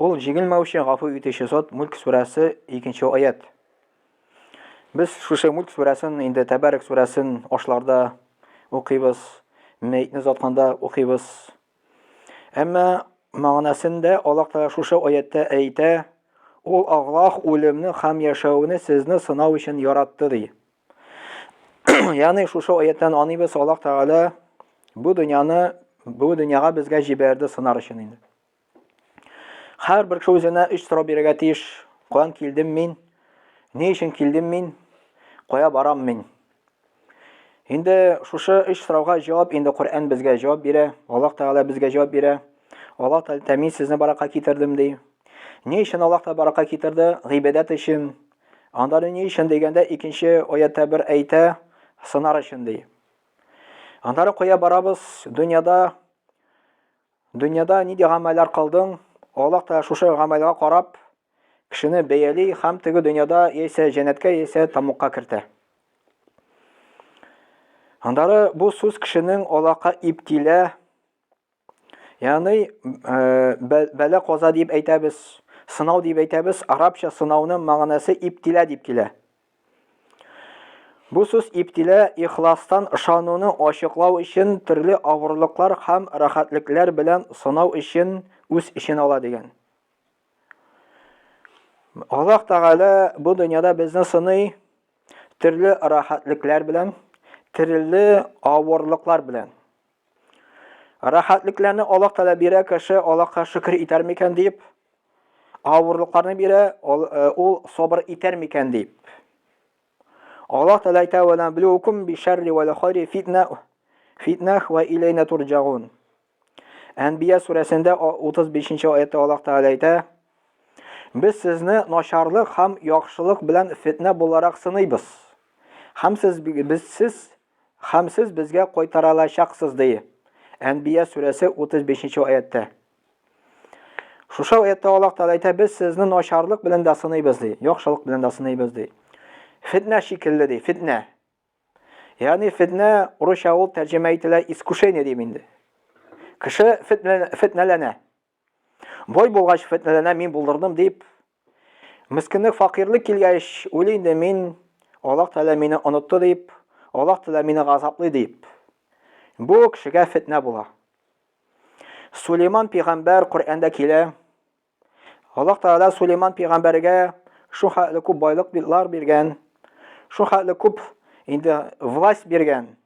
Ул җиңелмәүче, гафу итүче зат, Мүлк сүрәсе, икенче аять. Без шушы Мүлк сүрәсен, инде Тәбәрәк сүрәсен ашларда укыйбыз, мәетне озатканда укыйбыз. Әмма мәгънәсендә Аллаһ Тәгалә шушы аятта әйтә, Ул Аллаһ үлемне һәм яшәүне сезне сынау өчен яратты, ди. Ягъни шушы аяттан аныйбыз Аллаһ Тәгалә бу дөньяны бу дөньяга безгә җибәрде сынар өчен инде. Хәр бер кеше үзенә өч сорау бирергә тиеш. Каян килдем мин? Ни өчен килдем мин? Кая барам мин? Инде шушы өч сорауга җавап инде Коръән безгә җавап бирә, Аллаһ Тәгалә безгә җавап бирә. Аллаһ Тәгалә мин сезне баракка китердем ди. Ни өчен Аллаһ Тәгалә баракка китерде? Гыйбадәт өчен. Анда ни өчен дигәндә, икенче аятта бер әйтә, сынар өчен ди. Аннары куя барабыз, дөньяда дөньяда нинди гамәлләр кылдың? Аллаһ та шушы гамәлгә карап кешене бәяли һәм теге дөньяда яисә җәннәткә, яисә тамукка кертә. Аннары бу сүз кешенең Аллаһка иптилә Ягъни бәла каза дип әйтәбез, сынау дип әйтәбез. Арабча сынауның мәгънәсе иптилә дип килә. Бу сүз иптилә ихластан ышануны ачыклау өчен төрле авырлыклар һәм рәхәтлекләр белән сынау өчен үз эчен ала дигән. Аллаһ Тәгалә бу дөньяда безне сыный төрле рәхәтлекләр белән, төрле авырлыклар белән. Рәхәтлекләрне Аллаһ Тәгалә бирә, кеше Аллаһка шөкер итәр микән дип, авырлыкларны бирә, э, ул сабыр итәр микән дип. Аллаһ Тәгалә әйтә: "Ва наблюкум би шарри вал хайри фитна фитнах ва илейна турҗагун". Әнбия сүрәсендә 35-нче аятта Аллаһ Тәгалә әйтә: Без сезне начарлык һәм яхшылык белән фетнә буларак сыныйбыз. Һәм сез без сез Һәм сез безгә кайтаралачаксыз, ди Әнбия сүрәсе 35 нче аятьтә. Шушы аятьтә Аллаһ Тәгалә әйтә, без сезне начарлык белән дә сыныйбыз, ди, яхшылык белән дә сыныйбыз, ди. Фитнә шикелле, ди, фитнә. Ягъни фитнә урысча ул тәрҗемә ителә искушение дип инде. Кеше фитнәләнә. Бай булгач, фетнәләнә мин булдырдым дип, мескенлек, факирлек килгәч, уйлый инде мин, Аллаһ Тәгалә мине онытты дип, Аллаһ Тәгалә мине газаплый дип. Бу кешегә фетнә була. Сулейман пигамбәр Коръәндә килә. Аллаһ Тәгалә Сулейман пигамбәргә шул хәтле күп байлык биргән, шул хәтле күп инде власть биргән.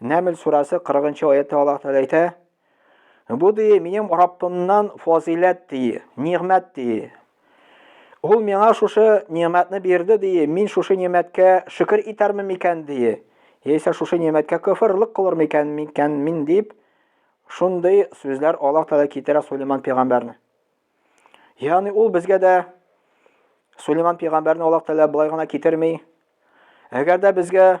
Нәмл сурасы 40-нчы аятта Аллаһ Тәгалә әйтә: "Бу ди минем Раббымнан фазиләт ди, нигъмәт ди. Ул миңа шушы нигъмәтне бирде ди, мин шушы нигъмәткә шөкер итәрме микән ди, яисә шушы нигъмәткә кафирлык кылыр микән микән мин дип шундый сүзләр Аллаһ Тәгалә китерә Сулейман пәйгамбәрне. Ягъни ул безгә дә Сулейман пәйгамбәрне Аллаһ Тәгалә былай гына китерми. Әгәр дә безгә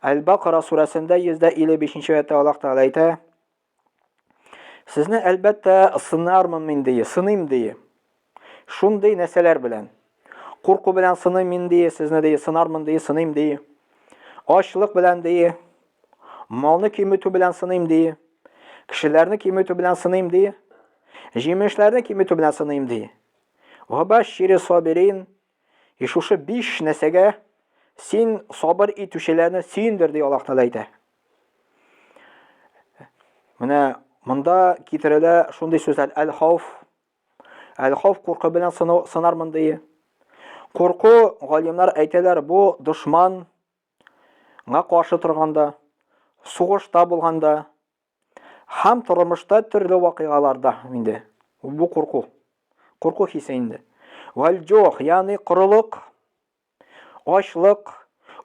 Әл-Бакара сүрәсендә 155 нче аятта Аллаһ Тәгалә әйтә: Сезне әлбәттә сынармын мин ди, сыным ди. Шундый нәрсәләр белән. Курку белән сыным мин ди, сезне ди, сынармын ди, сыным ди. Ачлык белән ди. Малны киметү белән сыным ди. Кешеләрне киметү белән сыным ди. Җимешләрне киметү белән сыным ди. Вабашири сабирин, И шушы биш нәрсәгә син сабыр итүчеләрне сөендер, ди Аллаһ Тәгалә әйтә. Менә монда китерелә шундый сүзләр әл-хауф. Әл-хауф куркы белән сынар мондый. Курку, галимнар әйтәләр, бу дошманга каршы торганда, сугышта булганда, Һәм тормышта төрле вакыйгаларда инде бу курку, курку хисе инде. Вальҗох, ягъни корылык, ачлык,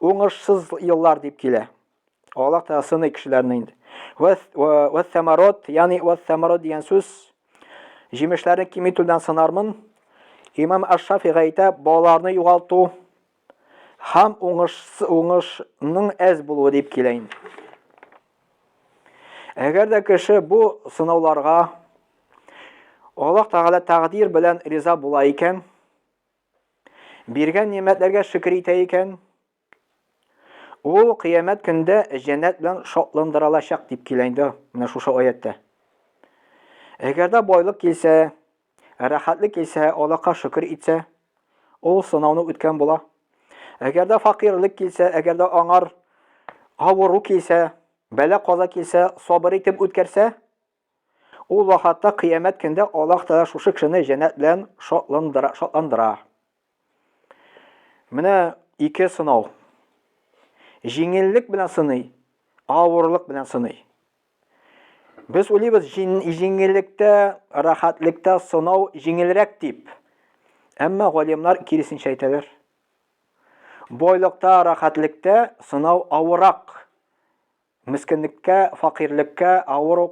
уңышсыз еллар дип килә. Аллаһ Тәгалә сыный кешеләрне инде. Вәс самарот, ягъни вәс самарот дигән сүз җимешләрне киметүдән сынармын. Имам Аш-Шафига әйтә, балаларны югалту, һәм уңыш, уңышның әз булуы дип килә инде. Әгәр дә кеше бу сынауларга Аллаһ Тәгалә тәкъдир белән риза була икән, биргән нигъмәтләргә шөкер итә икән, ул кыямәт көндә җәннәт белән шатландырылачак дип килә инде менә шушы аятта. Әгәр дә байлык килсә, Ә рәхәтлек килсә, Аллаһка шөкер итсә, ул сынауны үткән була. Әгәр дә факыйрьлек килсә, әгәр дә аңар авыру килсә, бәла-каза килсә, сабыр итеп үткәрсә, ул вакытта кыямәт көндә Аллаһ Тәгалә шушы кешене җәннәт белән шатландыра. Менә ике сынау. Җиңеллек белән сыный, авырлык белән сыный. Без уйлыйбыз, җиңеллектә, рәхәтлектә сынау җиңелрәк дип. Әмма галимнар киресенчә әйтәләр. Бойлыкта, рәхәтлектә сынау авырак. Мескенлеккә, факирлеккә, авыру,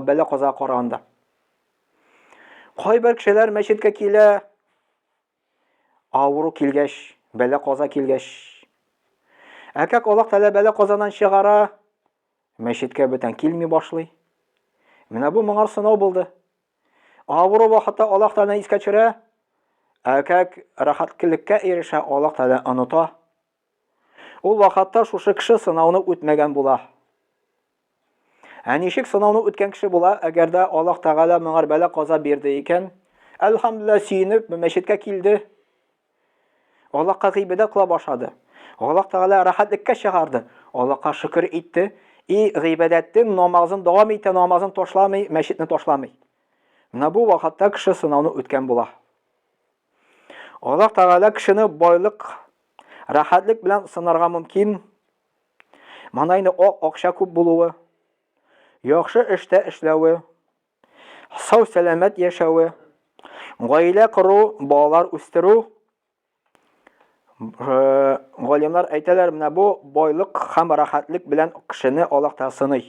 бәла-казага караганда. Кайбер кешеләр мәчеткә килә, авыру килгәч, бәла-каза килгәч. Ә как Аллаһ Тәгалә бәла-казадан чыгара, мәчеткә бүтән килми башлый. Менә бу моңар сынау булды. Авыру вакытта Аллаһ Тәгаләне искә төшерә, ә как рәхәткелеккә ирешә, Аллаһ Тәгалә оныта. Ул вакытта шушы кеше сынауны үтмәгән була. Ә ничек сынауны үткән кеше була, әгәр дә Аллаһ Тәгалә моңар бәла каза бирде икән? Әлхәмдүлилләһ, сөенеп, мәчеткә килде. Аллаһка гыйбадәт кыла башлады. Аллаһ Тәгалә рәхәтлеккә чыгарды. Аллаһка шөкер итте. И гыйбадәтен, намазын дәвам итә, намазын ташламый, мәчетне ташламый. Менә бу вакытта кеше сынауны үткән була. Аллаһ Тәгалә кешене байлык, рәхәтлек белән сынарга мөмкин. Манайны ак акча күп булуы, яхшы эштә эшләве, сау сәламәт яшәве, гаилә кору, балалар үстерү. Э, галимнар әйтәләр, менә бу байлык һәм рәхәтлек белән кешене Аллаһ Тәгалә сыный.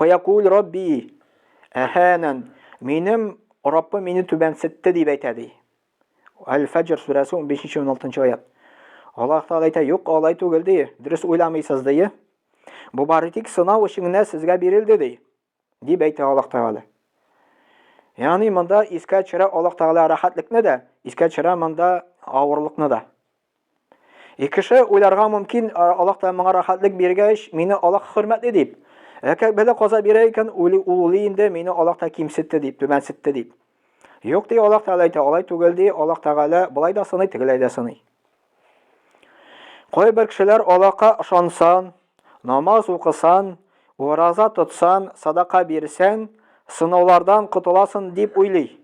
Фаякуль Рабби, әһәнән, минем Раббым мине түбәнсетте дип әйтә ди. Әл-Фәҗр сүрәсе 15-16 аят. Аллаһ Тәгалә әйтә, юк, алай түгел ди, дөрес уйламыйсыз ди. Бу бары тик сынау өчен генә сезгә бирелде ди, дип әйтә Аллаһ Тәгалә. Ягъни монда искә төшерә Аллаһ Тәгалә рәхәтлекне дә, искә төшерә монда авырлыкны да. И кеше уйларга мөмкин, Аллаһ та моңа рәхәтлек биргәч, мине Аллаһ хөрмәтле дип. Әгәр бәла каза бирә икән, уйлый ул уйлый инде, мине Аллаһ та кимсетте дип, түбәнсетте дип. Юк ди Аллаһ Тәгалә әйтә, алай түгел ди, Аллаһ Тәгалә болай да сыный, тегеләй дә сыный. Кайбер кешеләр Аллаһка ышансан, намаз укысан, ураза тотсан, садака бирсән, сынаулардан котыласын дип уйлый.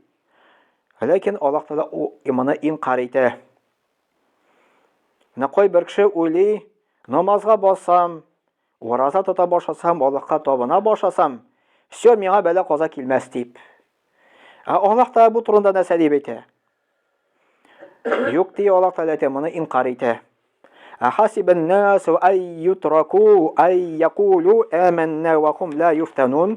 Ләкин Аллаһ Тәгалә иманы инкар итә. Менә кайбер кеше уйлый, намазга басам, ураза тота башласам, Аллаһка табына башласам, все, миңа бәла каза килмәс дип. Ә Аллаһ та бу турында нәрсә дип әйтә? Юк ди Аллаһ та әйтә, моны инкар итә. Ахасибен насу ай ютраку ай якулу әмәннә вахум ла юфтанун.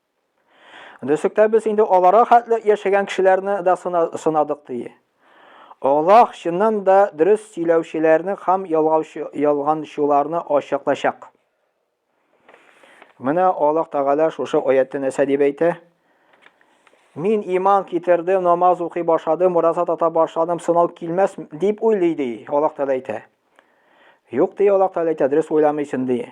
Дөслектә без инде аларга хәтле яшәгән кешеләрне дә сынадык, ди. Аллаһ чыннан да дөрес сөйләүчеләрне һәм ялганчыларны ачыклачак. Менә Аллаһ Тәгалә шушы аятта нәрсә дип әйтә? Мин иман китердем, намаз укый башладым, ураза тота башладым, сынау килмәс дип уйлый, ди. Аллаһ Тәгалә әйтә. Юк, ди Аллаһ Тәгалә әйтә, дөрес уйламыйсың, ди.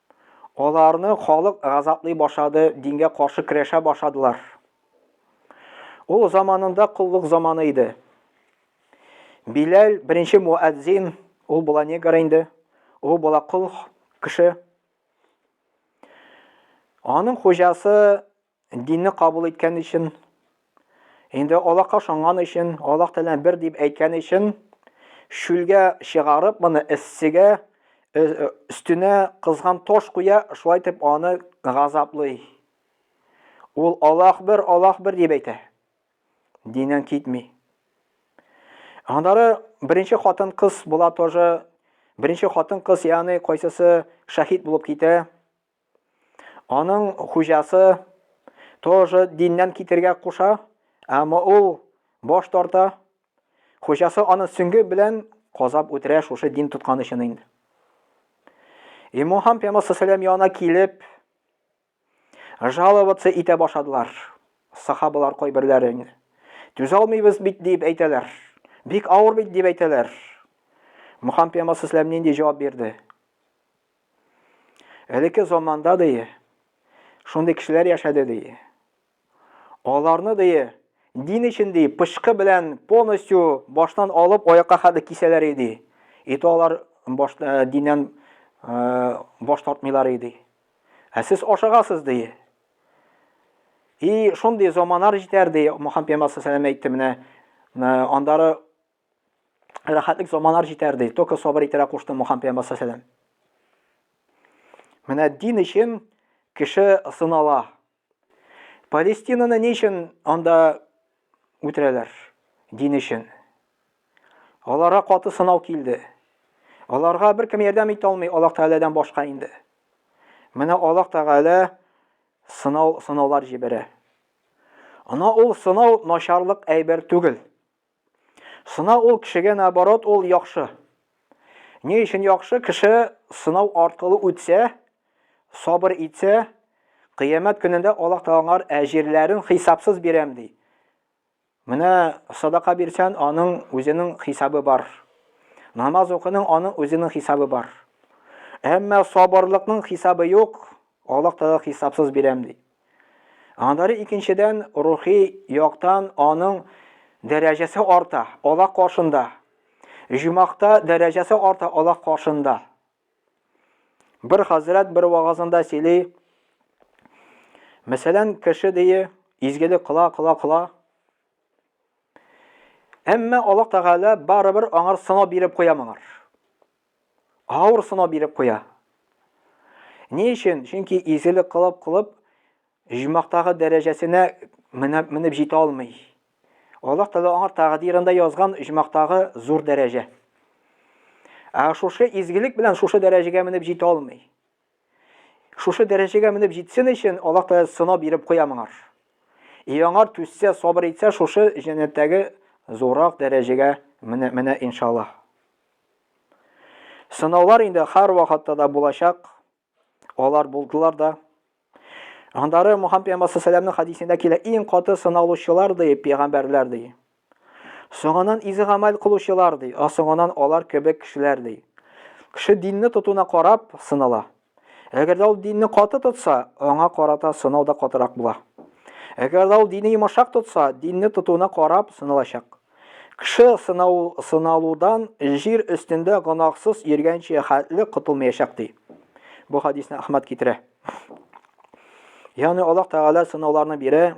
Аларны халык газаплый башлады, дингә каршы көрәшә башладылар. Ул заманында коллык заманы иде. Биләл, беренче муәззин, ул була негр инде, ул була кол кеше. Аның хуҗасы Динне кабул иткән өчен, инде Аллаһка ышанган өчен, Аллаһ Тәгалә бер дип әйткән өчен, чүлгә чыгарып, моны эссегә, өстенә кызган таш куя, шулай итеп аны газаплый. Ул Аллаһ бер, Аллаһ бер дип әйтә. Диннән китми. Аннары беренче хатын кыз була тоже. Беренче хатын кыз, ягъни кайсысы шәһид булып китә, Аның хуҗасы тоже диннән китергә куша, әмма ул баш тарта. Хуҗасы аны сөңге белән казап үтерә шушы дин тоткан өчен инде. И Мухаммад пәйгамбәр саллаллаху янына килеп, жаловаться итә башладылар. Сахабалар кайберләре инде. Түзә алмыйбыз бит дип әйтәләр. Бик авыр бит дип әйтәләр. Мухаммад пәйгамбәр саллаллаху нинди җавап бирде? Элекке заманда дие, шундый кешеләр яшәде дие. Аларны дие, дин өчен дие, пычкы белән полностью баштан алып аякка хәтле кисәләр иде. Ите алар баш, э, диннән э, баш тартмыйлар иде. Ә сез ашыгасыз дие. И шундый заманар җитәр дие, Мөхәммәд пәйгамбәр әйтте менә, э, андары Рәхәтлек заманар җитәр ди. Только сабыр итәрә кушты Мухаммед пәйгамбәр саллаллаһу Менә дин өчен кеше сынала. Палестинаны ни өчен анда үтерәләр? Дин өчен. Аларга каты сынау килде. Аларга беркем ярдәм итә алмый Аллаһ Тәгаләдән башка инде. Менә Аллаһ Тәгалә сынау сынаулар җибәрә. Ана ул сынау начарлык әйбер түгел. Сынау ул кешегә наоборот ул яхшы. Ни өчен яхшы? Кеше сынау арткылы үтсә, сабыр итсә, кыямәт көнендә Аллаһ Тәгалә әҗирләрен хисапсыз бирәм ди. Менә садака бирсән, аның үзенең хисабы бар. Намаз укының, аның үзенең хисабы бар. Әмма сабырлыкның хисабы юк, Аллаһ Тәгалә хисапсыз бирәм ди. Аннары икенчедән рухи яктан аның дәрәҗәсе арта Аллаһ каршында. Җумахта дәрәҗәсе арта Аллаһ каршында. Бер хәзрәт бер вагазында сөйли. Мәсәлән, кеше дие изгелек кыла, кыла, кыла. Әмма Аллаһ Тәгалә барыбер аңар сынау биреп куя моңар. Авыр сынау биреп куя. Ни өчен? Чөнки изгелек кылып кылып җумактагы дәрәҗәсенә менеп, менеп җитә алмый. Аллаһ Тәгалә аңа тәкъдирендә язган җумактагы зур дәрәҗә. Ә шушы изгелек белән шушы дәрәҗәгә менеп җитә алмый. Шушы дәрәҗәгә менеп җитсен өчен Аллаһ Тәгалә сынау биреп куя моңар. И аңар түзсә, сабыр итсә, шушы җәннәттәге зуррак дәрәҗәгә менә, менә иншаллаһ. Сынаулар инде һәр вакытта да булачак. Алар булдылар да. Андары Мухаммед пәйгамбәр сәламнең хадисендә килә, иң каты сыналучылар ди пәйгамбәрләр ди. Соңанан изегамәл кылучылар, ди, а соңанан алар кебек кешеләр, ди. Кеше динне тотуына карап, сынала. Әгәр дә ул динне каты тотса, аңа карата сынау да катырак була. Әгәр дә ул динне йомышак тотса, динне тотуына карап, сыналачак. Кеше сынау, сыналудан җир өстендә гөнаһсыз йөргәнче хәтле котылмаячак, ди. Бу хадисне Әхмәд китерә. Ягъни Аллаһ Тәгалә сынауларны бирә,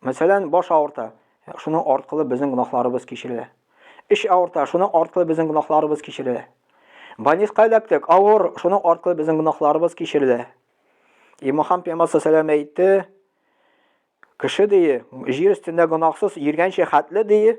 Мәсәлән, баш авырта, шуның аркылы безнең гөнаһларыбыз кичерелә. Эш авырта, шуның аркылы безнең гөнаһларыбыз кичерелә. Больниска эләктек, авыр, шуның аркылы безнең гөнаһларыбыз кичерелә. И Мухаммад пәйгамбәр саллаллаху әйтте, кеше дие, җир өстендә гөнаһсыз йөргәнче хәтле дие,